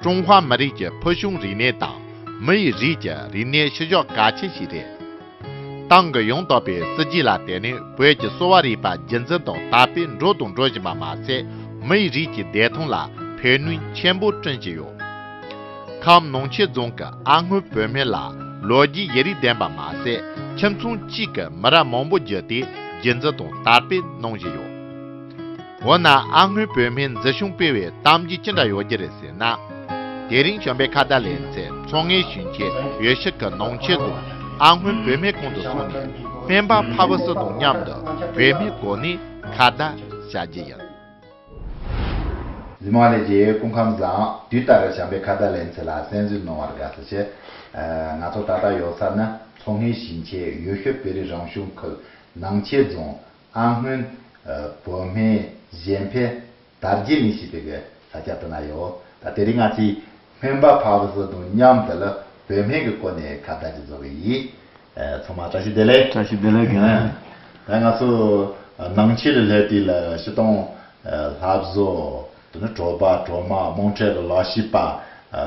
ཀྲུང་ཧྭ་མི་རིགས་ཀྱི་ཕུལ་བྱུང་རིག་གནས་དང་མི་ཡི་རིགས་ཀྱི་རིག་གནས་ཕྱི་ཕྱོགས་གལ་ཆེན་ཞིག་རེད། ཏང་གི་ཡོངས་རྟོགས་པའི་སྲིད་ཇུས་ལ་བརྟེན་ནས་བོད་ཀྱི་གསོ་བ་རིག་པ་རྒྱུན་འཛིན་དང་དར་སྤེལ་འགྲོ་དང་འགྲོ་བཞིན་པ་མ་ཟད་མི་ཡི་རིགས་ཀྱི་བདེ་ཐང་ལ་ཕན་ནུས་ཆེན་པོ་བསྐྲུན་གྱི་ཡོད། ཁམས་ནང་ཆེན་རྫོང་གི་ཨ་སྔོན་བོད་སྨན་ལ་ལོ་བརྒྱའི་ཡི་རིགས་ལྡན་པ་མ་ཟད་ཁྱིམ་ཚང་གཅིག་གི་མི་རབས་མང་པོ་བརྒྱུད་དེ་རྒྱུན་འཛིན་དང་དར་སྤེལ་གནང་བཞིན་ཡོད། འོ་ན་ཨ་སྔོན་བོད་མིའི་མཛེས་གཞུང་སྤེལ་བའི་གཏམ་གྱིས་ཅི་འདྲ་ཡོད་ཀྱི་རེད་ཟེར་ན། དེ་རིང་བྱོན་པའི་ཁ་བརྡ་ལས་མཛད་ཚོགས་ངའི་ཞུན་ཆེ་ཡོད་ཤག་གི་ནང་ཆེད་དུ་ཨ་སྔོན་བོད་མའི་གོང་དུ་སོང་ནས་སྨན་པ་ཕ་བུ་སུ་དང་མཉམ་དུ་བོད་མིའི་སྒོ་ནས་ཁ་བརྡ་བྱ་རྒྱུ་ཡིན། ཧི་མ་ལའི་རྒྱལ་ཡོལ་སྐུ་ཁམས་བཟང། དུས་ལྟར་བྱམས་པའི་ཁ་བརྡ་ལས་མཛད་ལ་གསན་བསུ་གནང་བར་དགའ་བསུ་ཆེ། ང་ཚོ་ད་ལྟ་ཡོད་ས་ནི་ཚོགས་ངའི་ཞུན་ཆེ་ཡོད་ཤག་བེ་རི་རང་བྱུང་ཁུལ་ནང་ཆེད་རྫོང། ཨ་སྔོན། བོད་སྨན། གཞན་ཕན། དར་རྒྱས་མི་ཞིག་བེད་པའི་ས་ཆ་དུ་ན་ཡོད། ད་དེ་རིང་ང་ཚོས་སྨན་པ་ཕག་ལོ་སོ་དང་མཉམ་དུ་ལ་བོད་སྨན་གྱི་སྐོར་ནས་ཁ་བརྡ་ཅིག་བཟོ་གི་ཡིན། ཚང་མ་བཀྲ་ཤིས་བདེ་ལེགས། བཀྲ་ཤིས་བདེ་ལེགས། ད་ང་ཚོ་ནང་ཆོས་ལས་ལྷད་དུས་ལ་ཕྱི་གཏོང། ལྷ་བཟོ། དེ་ནི་གྲོགས་པ་གྲོགས་མ་རྨོངས་འཕྲད་ལ་ལག་ཤེས་པ།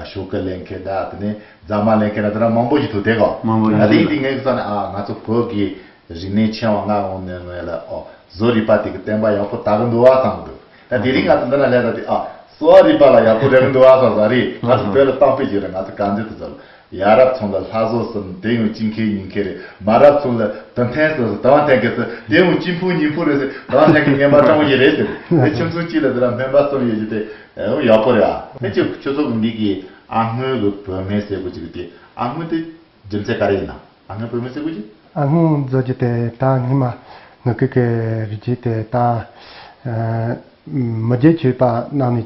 ཤོ་ཀི་ལེན་མཁན་དང་དེ་ནས་རྫ་མ་ལེན་མཁན་དང་དེ་འདྲ་མང་པོ་ཞིག་འདུག་དེ་གོ། མང་པོ་ཞིག་འདུག་ལ། དེའི་སྟེང་ངས་བསམ་ནས་ང་ཚོ་བོད་ཀྱི་རིག་གནས་ཕྱེ་བ་མངགས་འོང་ནས་ངས་ལ་ཨོ་བཟོ་རིག་པ་དེ་གི་བསྟན་པ་ཡག་པོ་དག་གི་འདུག་བ་བསམ་འདུག་ད་དེ་རིང་ང་ཚོ་འདི་ན་ལས་ད་དེ་ཨོ་བཟོ་བ་རིག་པ་ལ་ཡག་པོ་རེག་གི་འདུག་བ་བསམ་ང་རིག་ང་ཚོ་བོད་ལ་བཏང་ཕེབས་བྱས་ན་ང་ཚོ་གང་འདོད་དུ་བཟོ་ལ་ཡ་རབས་ཚོང་ལ་ལྷ་བཟོ་གསུམ་དེ་ཡང་སྤྱི་མཁས་ཉིན་མཁས་རེད་མ་རབས་ཚོང་ལ་དུ་འཐེན་གསུམ་ཟེར་དང་བ་འཐེན་མཁས་ཟེར་དེ་ཡང་སྤྱི་འཕུང་ཉིན་འཕུང་རེད་ཟེར་དང་བ་འཐེན་མཁས་ངན་པ་སྤྲང་བོ་ཞིག་རེད་ཟེར་དེ་ཁྱིམ་ཚང་གཅིག་ལ་དེ་ར་སྨན་པ་གསུམ་ཡོད་རྒྱུ་དེ་ཡང་ཡག་པོ་རེད་ཨ། ཨེ་ཅི་ཁྱོད་ཚོ་གི་འདི་གི་ཨ་སྔོན་གི་བོད་སྨན་ཟེར་དགོས་ཀྱི་འདུག་དེ་ཨ་སྔོན་དེ་རྒྱུ་མཚན་ག་རེ་ཡིན་ན་ཨ་སྔོན་བོད་སྨན་ཟེར་དགོས་ཀྱི། ཨ་སྔོན་བཟོ་རྒྱུ་དེ་དང་སྔོན་མ་ནུ་གུ་གི་རིགས་རྒྱུད་དེ་དང། མི་རྒྱུད་ཆོས་པ་རྣམས་ནས།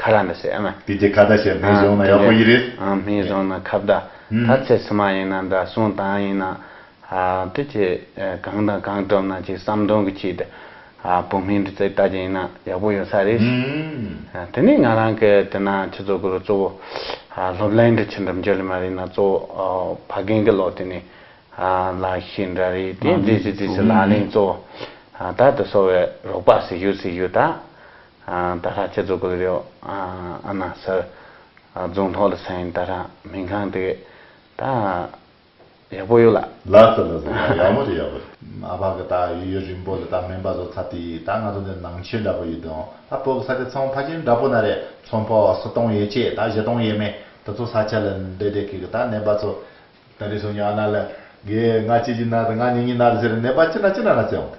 ཁ་ར་མི་སེ་ཨང། དེ་གྱི་ཁ་བརྡ་བྱས་སྨན་བཟང་ན་ཡག་པོ་ཡི་རེད། ཨང་སྨན་བཟང་ན་ཁ་བརྡ་ད་ཚེ་ཚུ་མ་ཡིན་ན་འདྲ་གསུང་དང་ཡིན་ན། དེ་ཁྱེད་གང་དང་གང་བཀྲོམ་ན་ཅིག་བསམ་དོན་གི་ཆེད་དུ། བོད་སྨན་འདི་ཚེ་ལྟ་རྒྱུ་ཡིན་ན་ཡག་པོ་ཡོད་ས་རེད། དེ་ནས་ང་རང་གི་དེ་ན་ཁྱེད་ཚོ་གུ་རུ་གཙོ་བོ། སློབ་གླིང་འདི་ཆེ་འགྲམ་རྒྱ་ལི་མ་རིག་ན་གཙོ་བོ་ཕ་རྒན་གི་ལོ་དེ་ནས། ལག་ཤེས་འདྲ་རེད་དེ་རྫི་སི་རྫི་སི་ལག་ལེན་གཙོ་བོ། ད་དུ་སོ་བའི་རོགས་པ་སི་ཞུ་སི་ཞུ་ད། ད་ལྷ་ཁྱེད་ཚོ་གོལ་རོགས་ཨ་ན་སར་རྫོང་ཐོག་ལ་ས་ཡིན་ད་ལྷ་སྨན་ཁང་དེ་ད་ཡག་པོ་ཡོད་ལ། ལ་ཙི་ལ་ཙི་ད་ཡག་པོ་རེད་ཡག་པོ་རེད། མ་ཕ་གི་ད་ཡོད་ཡོད་རིང་པོ་ལ་ད་སྨན་པ་ཚོ་ཚ་དེ་ཡིས་ད་ང་ཚོ་འདི་ནང་ཆེན་འདྲ་པོ་ཡིན་དང་ད་བོད་ཀྱི་ས་ཆ་ཚང་ཕ་ཆེན་འདྲ་པོ་ན་རེད་ཚོང་པ་བ་སུ་སྟོང་ཡོད་ཆེ་ད་བཞི་སྟོང་ཡོད་མེད་ད་ཚོ་ས་ཆ་ལ་འདྲེ་འདྲེ་གི་གི་ད་ནད་པ་ཚོ། ད་རེ་སོང་ཉི་ཨ་ན་ལ། གེ་ང་ཅི་ཅི་ན་ད་ང་ཉི་ཉི་ན་རེ་ཟེར་ནད་པ་ཅི་ན་ཅི་ན་ན་ཙེ་འོང་ད།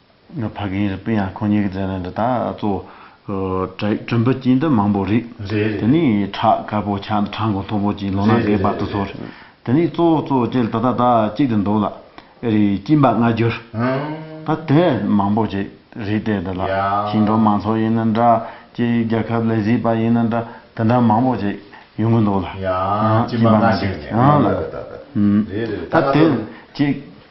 ཕ་རྒན་རི་པིན་ཡང་ཁོ་གཉིས་ཀྱི་མཛད་རྣམ་འདི་དག་གཙོ་བོ། བྲུན་པོ་སྐྱིད་འདི་མང་པོ་རིགས། དེ་ནས་བྲག་དཀར་པོ་ཆགས་འདི་བྲག་འགོ་མཐོ་པོ་སྐྱིད་ལོ་ན་རྒས་པ་དུ་ཚོར། དེ་ནས་གཙོ་བོ་གཙོ་བོ་སྐྱིད་ད་ལྟ་དག་སྐྱིད་དུ་འདུག་ལ། ཨེ་རེད་སྐྱིད་འབག་སྔ་འགྱུར། ད་དེ་མང་པོ་ཅིག་རེད་དེ་འདི་ལ་ཞིང་འབྲོག་མང་ཚོགས་ཡིན་ན་འདྲ། སྐྱིད་རྒྱལ་ཁབ་ལས་བཟི་བ་ཡིན་ན་འདྲ་དེ་འདྲ་མང་པོ་ཅིག་ཡོང་གི་འདུག་ལ། སྐྱིད་འབག་སྔ་འགྱུར། ད་དེ་སྐྱིད།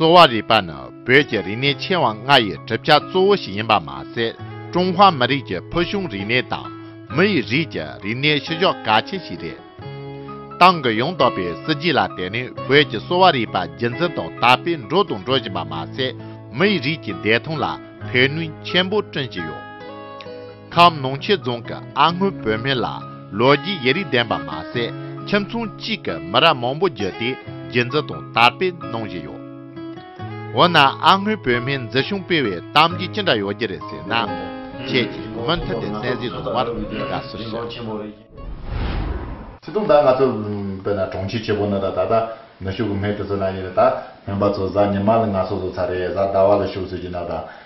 གསོ་བ་རིག་པ་ནི་བོད་ཀྱི་རིག་གནས་ཆེ་བ་ལྔ་ཡི་གྲུབ་ཆ་གཙོ་བོ་ཞིག་ཡིན་པ་མ་ཟད་ཀྲུང་ཧྭ་མི་རིགས་ཀྱི་ཕུལ་བྱུང་རིག་གནས་དང་མི་ཡི་རིགས་ཀྱི་རིག་གནས་བཤུ་གཞོག་གལ་ཆེན་ཞིག་རེད། ཏང་གི་ཡོངས་རྟོགས་པའི་སྲིད་ཇུས་ལ་བརྟེན་ནས་བོད་ཀྱི་གསོ་བ་རིག་པ་རྒྱུན་འཛིན་དང་དར་སྤེལ་འགྲོ་དང་འགྲོ་བཞིན་པ་མ་ཟད་མི་ཡི་རིགས་ཀྱི་བདེ་ཐང་ལ་ཕན་ནུས་ཆེན་པོ་བསྐྲུན་གྱི་ཡོད། ཁམས་ནོངས་ཆེ་རྫོང་གི་ཨ་སྔོན་བོད་སྨན་ལ་ལོ་རྒྱུས་ཡིག་རིགས་ལྡན་པ་མ་ཟད་ཁྱིམ་ཚང་གཅིག་གི་མི་རབས་མང་པོ་བརྒྱུད་དེ་རྒྱུན་འཛིན་དང་དར་སྤེལ་གནང་བཞིན་ཡོད། འོ་ན་ཨ་སྔོན་བོད་སྨན་འཛིན་སྐྱོང་སྤེལ་བའི་གཏམ་རྒྱུད་ཅི་འདྲ་ཡོད་རྒྱུ་རེད་ཟེར་ན། ཁྱེད་ཀྱིས་མུ་མཐུད་དེ་གསན་གཟིགས་གནང་བར་དགའ་བསུ་ཞུ། ཚེ་ཐུང་ད་ང་ཚོ་བོད་ན་གྲོང་ཁྱེར་ཆེ་པོ་ནང་ད་ད་ནུ་ཞོ་གི་སྨན་དེ་ཚོ་ན་ཡོད་ད་སྨན་པ་ཚོ་གཟའ་ཉི་མ་ལ་ང་སོ་སོ་ཚར་རེ་གཟའ་ཟླ་བ་ལ་ཞོ་བཟོས་ཀྱི་ན་ད།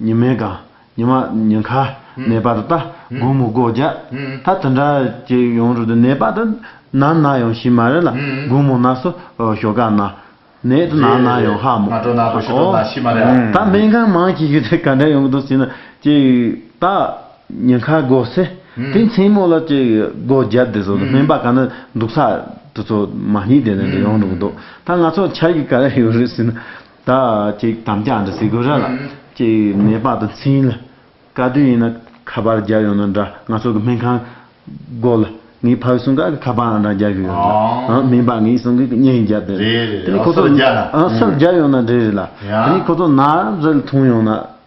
ཉི་མའི་སྒང། ཉི་མ། ཉི་ཁ། ནས་པ་རུ་ཏཱ། དགུང་མོ་སྒོ་བརྒྱ། ད་དུ་འདྲ། ཅེས་ཡོང་རུ་ཏུ་ནས་པ་དུ། ན་ན་ཡོང་ཤི་མ་རེ་ལ། དགུང་མོ་ན་སོ། ཞོ་ཀ་ན། ནས་ཏུ་ན་ན་ཡོང་ཧ་མོ། རེད། ང་གྲོ་ན་ཏུ་ཞོ་ཏོ་ན་ཤི་མ་རེ་ཨ། ད་སྨན་ཁང་མང་ཤི་ཤི་ཏེ་ག་འདྲ་ཡོང་གི་འདུག་ཟེར་ན། ཅེས་ཏ། ཉི་ཁ་སྒོ་སེ། དེ་མཚན་མོ་ལ་ཅེས་སྒོ་བརྒྱ་དེ་ཚོ་སྨན་པ་ག་ན་འདུག་ས་དེ་ཚོ་མ་ཉིད་དེ་ནས་ཡོང་རུ་གི་འདུག་ད་ང་ཚོ་འཆར་གི་ག་རེ་ཡོད་རེད་ཟེར་ན། ད་ཅིག་དམ་བཅའ་འདི་སི་གུ་ར་ལ་ཅིག་ནས་པ་དང་ཚིན་ལ་དཀའ་དུས་ཡིན་ན་ཁ་པར་རྒྱག་ཡོང་ན་འདྲ་ང་ཚོ་གི་སྨན་ཁང་སྒོ་ལ་ངའི་ཕ་གི་གསུང་ག་གི་ཁ་པར་འདྲ་རྒྱག་གི་ཡོད་རེད་ལ་ཨང་སྨན་པ་ངའི་གསུང་གི་གི་བརྙན་རྒྱག་དེ་རེད་དེ་ནས་ཁོ་ཚོ་ཨང་སུར་རྒྱག་ཡོང་ན་འདྲ་རེད་ལ་དེ་ནས་ཁོ་ཚོ་ན་རེ་ལ་འཐུང་ཡོང་ན།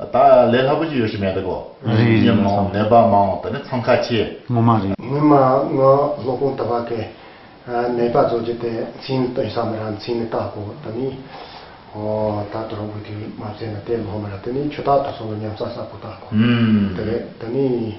ད་ལས་སླ་པོ་ཅིག་ཡོད་ཤི་མེད་དགོ། རིགས་དབྱེ་མང་ནད་པ་མང་དེ་ནི་འཚང་ཁ་ཆེ། ངོ་མ་རེད། ཉི་མ་ང་ལྷོ་སྤུངས་ད་བ་ཀའི་ནད་པ་ཚོ་ཇི་དེ་མཚན་ནི་སྟོན་ས་མི་ར་མཚན་ནི་བལྟ་དགོ་ད་ནི་ཨོ་ད་དུ་རོང་བུ་དུས་མ་མཚན་ན་དེ་ལྷོ་མི་ར་དེ་ནི་ཆུ་དག་ཏུ་སོང་ལ་ཉམས་ས་ས་དགོ་བལྟ་དགོ་དེ་རེད་ད་ནི།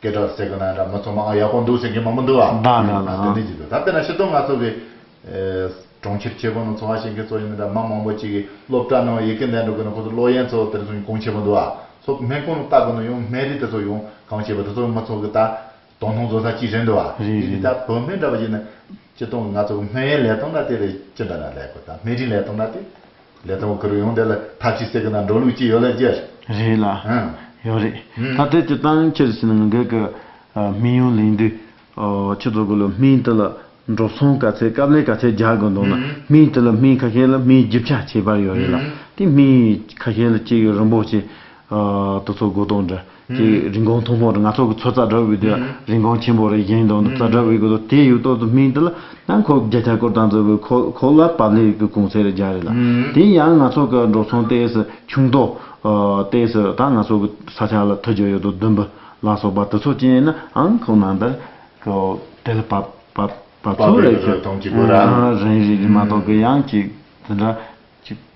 སྐད་གྲགས་ཟེར་གི་ན་འདྲ་མི་ཚོ་མང་ང་ཡག་པོ་འདུག་ཟེར་མཁན་མང་པོ་འདུག་ཨ། འདང་འདང་འདང་འདང། དེ་ནས་ཅིག་འདུག་ད་དཔེར་ན་ཕྱི་གཏོང་ང་ཚོ་གི། གྲོང་ཁྱེར་ཆེ་པོ་ནང་འཚོ་བ་བྱེད་མཁན་ཚོ་ཡིན་ན་འདྲ་མང་མང་པོ་ཅིག་གིས་སློབ་གྲྭ་ནང་ཡི་གེ་འདེད་འགྲོ་གི་ན་ཁོ་ཚོ་ལོ་ཡན་ཚོ་དེར་སོང་ཡོང་གང་བྱེད་པ་འདུག་ཨ། ཚོ་སྨན་ཁང་ནང་བལྟ་གི་ན་ཡོང་སྨན་རིས་དེ་ཚོ་ཡོང་གང་བྱེད་པ་དེ་ཚོ་མི་ཚོ་གི་ད། དོ་སྣང་བཟོ་ས་ཅིག་རེད་འདུག་ཨ། རེད་རེད། འདི་ལྟར་བོད་སྨན་འདྲ་པ་ཡིན་ན། སྤྱི་སྟོང་གི་ང་ཚོ་གི་སྨན་ཡིན་ལས་གཏོང་འདྲ་དེ་རེད་ཅི་འདྲ་ན་ལས་དགོས་ད་སྨན་རིས་ལས་གཏོང་འདྲ་དེ། ལས་དོན་ཁུར་ཡོང་དེ་ལ་ཐབས་ཅི་སེ་གི་ན་འགྲོ་ལུགས་ཅི་ཡོད་ལ་རྒྱལ། རེད་ལ། ཡོད་རེད། ད་དེ་ཅི་སྟངས་ཁྱེར་ཕྱིན་ང་འགས་ཀི་སྨིན་ཡོང་ལེན་དུས། ཁྱེད་ཚོ་དགོས་ལ་སྨིན་དེ་ལ་འགྲོ་སོང་ག་ཚད་སྐབས་ལས་ག་ཚད་རྒྱག་དགོས་འདུག་ན་སྨིན་དེ་ལ་སྨིན་ཁ་ཤས་ལ་སྨིན་བརྒྱུད་བྱ་བྱེད་པར་ཡོད་རེད་ལ་དེ་སྨིན་ཁ་ཤས་ལ་སྐྱེས་ཡོད་རིན་པོ་ཆེ། དུ་ཚོ་དགོས་དོགས་འདྲ། ཀྱི་རིན་གོང་མཐོ་པོ་རེད་ང་ཚོ་གི་ཚོ་ཙཱ་བྲག་འུ་དེ་རིན་གོང་ཆེན་པོ་རེད་གཞན་དོན་དུ་ཙཱ་བྲག་འུ་གི་དེ་ཡོད་དོ་དུ་མིན་དེ་ལ་ནང་ཁོ་བརྒྱ་ཆ་སྐོར་དང་ཙི་ཁོ་ཁོ་ལ་བབ་ལེ་གི་གུང་ཚེ་རེ་བརྒྱ་རེད་ལ་དེ་ཡང་ང་ཚོ་གི་འགྲོ་སོང་ལྟས་སུ་ཆུང་དོ་ལྟས་སུ་དང་ང་ཚོ་གི་ས་ཆ་ལ་ཐུ་རྒྱ་ཡོད་དོ་བདུན་བུ་ལ་སོགས་པ་དུ་ཚོ་ཅན་ཡིན་ན་ཨང་ཁོ་ནང་དུ་ཁོ་དེ་ལ་བབ་བབ་བབ་ཚུལ་རེད་ཁྱོད་རང་རེད་མ་གཏོགས་གི་ཡང་གཅིག་དེ་འདྲ་གཅིག།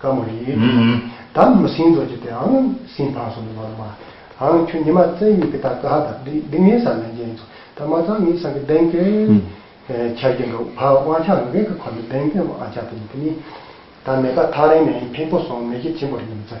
བཀའ་མོ་རི། དམ་མི་སྲིང་རྡོ་རྗེ་དེ་ཨང་སྲིང་འཕང་སོང་གི་ནོར་མ། ཨང་ཁྱོད་ཉི་མ་བཙན་གཡུག་གི་ད་ཀ་ཧ་ད་འདི་འདི་ངའི་སར་ལེན་རྒྱ་ཡིན་ཚོ་ད་མ་ཚང་ངའི་སང་གི་གདན་སྐྱོན་འཆར་གྱི་འདུག་ཕ་དབང་ཆ་ངེ་གི་ཁོ་ནི་གདན་སྐྱོན་དབང་ཆ་དེ་ཡིན་དེ་ནི་ད་མེ་ད་ཐག་རིང་ནས་ཡིན་ཕིང་པོ་སོང་མེ་ཁྱི་བྱིན་པོར་ཉིམ་ཚེ།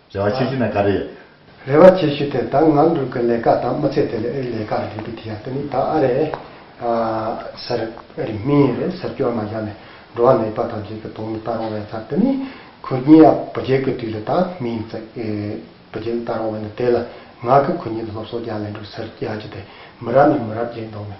རེ་བ་ཆེ་ཤོས་ནི་ག་རེ་ཡིན། རེ་བ་ཆེ་ཤོས་དེ་ད་ང་འབྲུག་གི་ལས་ཀ་དང་མི་ཚེ་དེ་ལས་ཨེ་རི་ལས་ཀ་རེ་རེད་པས་དེ་ཡག་པོ་ནི་ད་ཨ་རེ་ཟེར་ཨེ་རི་མི་ཡིན་རེད་ཟེར་སྐྱོ་ན་བཞག་ནས་འགྲོ་བ་མེད་པ་དང་རྗེས་ཀྱི་དོན་མི་ལྟ་རུང་བའི་ཚབ་དེ་ནི་གུ་རྒྱན་ཡང་བུ་རྒྱལ་གྱི་དུས་ལས་ད་མི་ཡིན་ཙག་གི་བུ་རྒྱལ་ལྟ་རུང་བས་ན་དེ་ལ་ང་གི་གུ་རྒྱན་དུ་སློབ་གསོ་རྒྱག་ལེན་འགྲུག་ཟེར་ཡག་རྒྱུ་དེ་མི་རབས་ནས་མི་རབས་རྒྱས་འདོང་བས་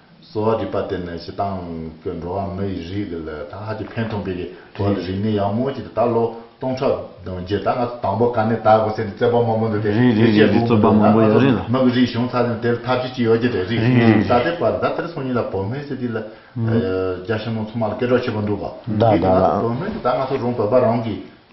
གསོ་བ་རིག་པ་དེ་ནི་ཞེ་སྡང་གི་འགྲོ་བ་མི་ཡི་རིགས་ལ་ད་ཧ་ཅིང་ཕན་ཐོགས་པའི་དོན་དུ་རིག་ནས་ཡང་མོ་ཅིག་ད་ལོ་སྟོང་ཕྲག་བདུན་བརྒྱད་ད་ང་ཚོ་དང་པོ་ག་ནས་ད་གོ་སའི་རྩོད་པ་མང་པོ་འདུག་སྟེ་རིག་རིག་རིག་རིག་རྩོད་པ་མང་པོ་ཡོད་རེད་ལ། མི་གི་རིགས་བྱུང་ཚར་ཡང་དེར་ཐབས་ཤེས་ཅི་ཡོད་རྒྱུ་རེད་རིག་རིག་རིག་རིག་ད་ལྟའི་བར་ད་དེར་སོང་ཉིན་ལ་བོད་སྨན་སི་ཏི་ལ་རྒྱ་ཞིང་ནང་ཚོང་མ་ལ་སྐད་གྲགས་ཆེ་པོ་འདུག་ག་དེའི་དུས་ང་ཚོ་བོད་སྨན་དུ་ད་ང་ཚོ་རང་བོད་པ་རང་གིས་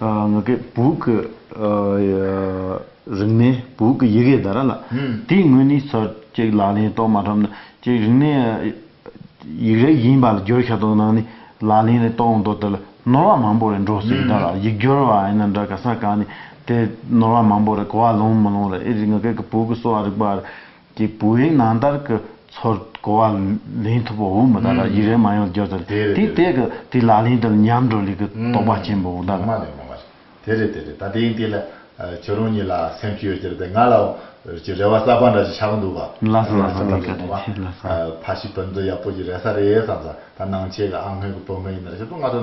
ང་གི་བུ་གི་རིག་གནས་བུ་གི་ཡི་གེ་ད་ར་ལ་དེའི་ངོས་ནས་ཚོད་ཅིག་ལག་ལེན་གཏོང་མ་ཐུབ་ན་ཅིག་རིག་གནས་ཡིག་རིགས་ཡིན་པ་ལ་སྒྱུར་ཤ་ཏོག་གནང་ནས་ལག་ལེན་རེ་གཏོང་འདོད་དེ་ལ་ནོར་བ་མང་པོ་རེ་འགྲོ་སྲིད་ད་ར་ཡིག་སྒྱུར་བ་ཡིན་ན་འདྲ་ག་ས་ག་ནས་དེ་ནོར་བ་མང་པོ་རེ་གོ་བ་ལོན་མི་ལོན་རེ་ཨེ་རེད་ང་གི་བུ་གི་གསོ་བ་རིག་པ་རེ་དེ་བུ་ཡིག་ནང་ལྟར་གྱི་ཚོར་གོ་བ་ལེན་ཐུབ་པོ་འོང་མི་ད་ལ་ཡིག་རལ་མ་ཡོང་རྒྱུ་དེ་རེད་དེ་རེད། དེ་དེ་གི་དེ་ལག་ལེན་དེ་ལ་ཉམས་འགྲོ་ལེ་གི་དོགས་པ་ཆེན་པོ་འོང་ད་ལ། ངོ་མ་རེད་ངོ་མ་རེད་དེ་རེད་དེ་རེད་ད་དེ་ཡིན་དེ་ལ་ཁྱོད་རང་གཉིས་ལ་སེམས་ཤུགས་ཡོད་ཀྱི་རེད་དེ་ང་ལ་ཀྱི་རེ་བ་གསར་པ་འདྲ་ཞིག་ཆགས་ཀྱི་འདུག་བ། ལ་ས་ལ་ས་ལ་ཀ་རེད་དེ་ལ་ས། ཕ་ཤི་བུ་འདི་ཡག་པོ་ཀྱི་རེ་ས་རེད་བསམ་ས་ད་ནང་ཆེ་གི་ཨ་སྔོན་གྱི་བུ་མོ་ཡིན་ན་རེ་ཞིག་ཏུ་ང་ཚོ།